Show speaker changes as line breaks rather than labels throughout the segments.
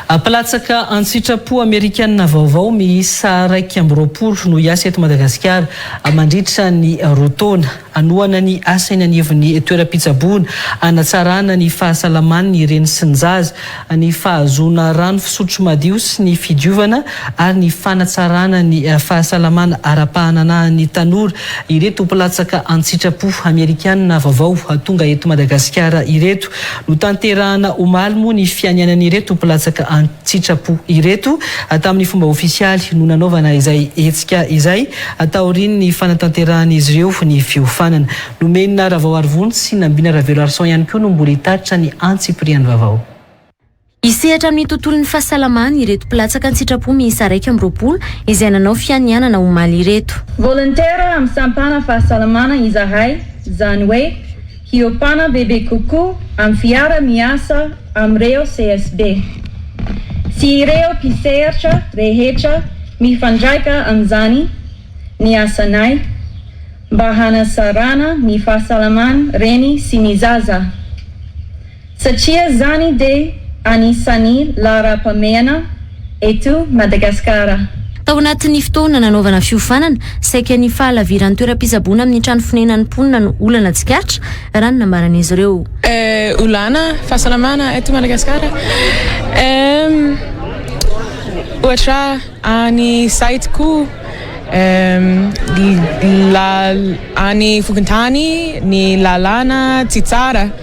Mpilatsaka an-tsitrapo amerikana vaovao miisa iraika amby roapolo no hiasa eto Madagasikara mandritra ny roa taona. Hanohana ny asa eny anivon'ny toeram-pitsaboana hanatsarana ny fahasalaman'ny reny sy ny zaza, ny fahazoana rano fisotro madio sy ny fidiovana ary ny fanatsarana ny fahasalamana ara-pahananahan'ny tanora ireto mpilatsaka an-tsitrapo amerikana vaovao tonga eto Madagasikara ireto. Notanterahina omaly moa ny fianianan'ireto mpilatsaka an-tsitrapo ireto tamin'ny fomba ofisialy no nanaovana izay hetsika izay, taorian'ny fanatanterahan'izy ireo ny fiofanana. Nomenina Ravao Arivony sy Nambina Raveloarison ihany koa no mbola hitatitra ny antsipiriany vavao. Hisehatra
amin'ny tontolon'ny fahasalamana ireto mpilatsaka an-tsitrapo miisa iraika amby roapolo izay nanao fianianana omaly ireto. Volontaire amin'ny
sampana fahasalamana izahay, izany hoe hiopana bebe kokoa amin'ny fiara miasa amin'ireo CSB sy ireo mpisehatra rehetra mifandraika amin'izany ny asanay mba hanasarana ny fahasalaman reny sy ny zaza. Satria zany dia anisany laharam-pamehana eto Madagasikara. Tao anatin'ny
fotoana nanaovana fiofanana, saika ny fahalaviran'ny toeram-pitsaboana amin'ny trano fonenan'ny mponina no olana tsikaritra, raha ny nambaran'izy ireo. Olana
fahasalamana eto Madagasikara, ohatra any site koa, any fokontany ny lalana tsy tsara.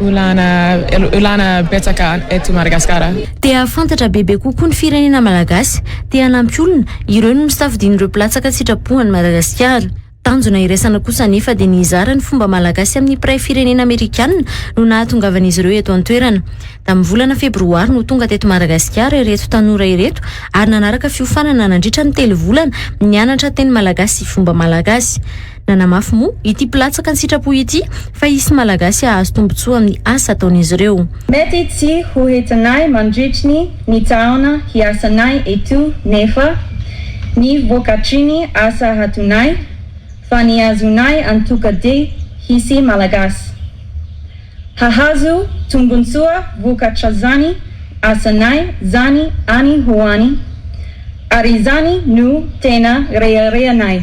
Olana betsaka eto Madagasikara. Te hahafantatra
bebe kokoa ny firenena malagasy, te hanampy olona, ireo no nosafidian'ireo mpilatsaka an-tsitrapo an'i Madagasikara. Tanjona iraisana kosa anefa dia ny hizara ny fomba malagasy amin'ny mpiray firenena amerikanina no nahatongavan'izy ireo eto an-toerana. Tamin'ny volana febroary no tonga teto Madagasikara ireto tanora ireto ary nanaraka fiofanana nandritra ny telo volana nianatra teny malagasy sy fomba malagasy. Nanamafy moa ity mpilatsaka an-tsitrapo ity fa hisy Malagasy hahazo tombontsoa amin'ny asa ataon'izy ireo. Mety tsy ho
hitanay mandritry ny taona hiasanay eto nefa ny vokatry ny asa hataonay fa ny azonay antoka dia hisy Malagasy hahazo tombontsoa vokatr'izany asanay izany any ho any ary izany no tena reharehanay.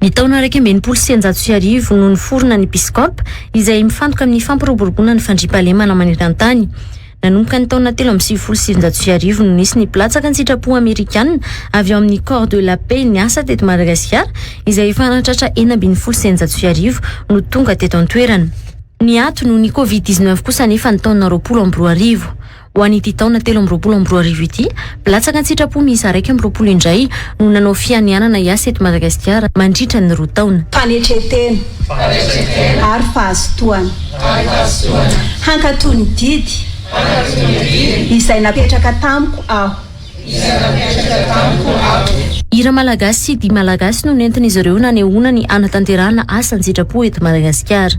Ny taona iraika amby enimpolo sy sianjato sy arivo no niforona ny Biskop, izay mifantoka amin'ny fampiroboroboana ny fandriampahalemana maneran-tany. Nanomboka ny taona telo amby sivifolo sy sivinjato sy arivo no nisy ny mpilatsaka an-tsitrapo Amerikana avy ao amin'ny Corps de la Paix niasa teto Madagasikara, izay efa nahatratra enina ambin'ny folo sy eninjato sy arivo no tonga teto an-toerana. Niato noho ny Covid dix-neuf kosa anefa ny taona roapolo amby roa arivo. Ho an'ity taona telo amby roapolo amby roa arivo ity, mpilatsaka an-tsitrapo miisa iraika amby roapolo indray no nanao fianianana hiasa eto Madagasikara mandritra ny roa taona. Fanetren-tena
ary fahazotoana. Hankatò ny didy izay napetraka tamiko aho.
Hira malagasy sy dihy malagasy no nentin'izy ireo nanehoana ny hanatanterahana asa an-tsitrapo eto Madagasikara.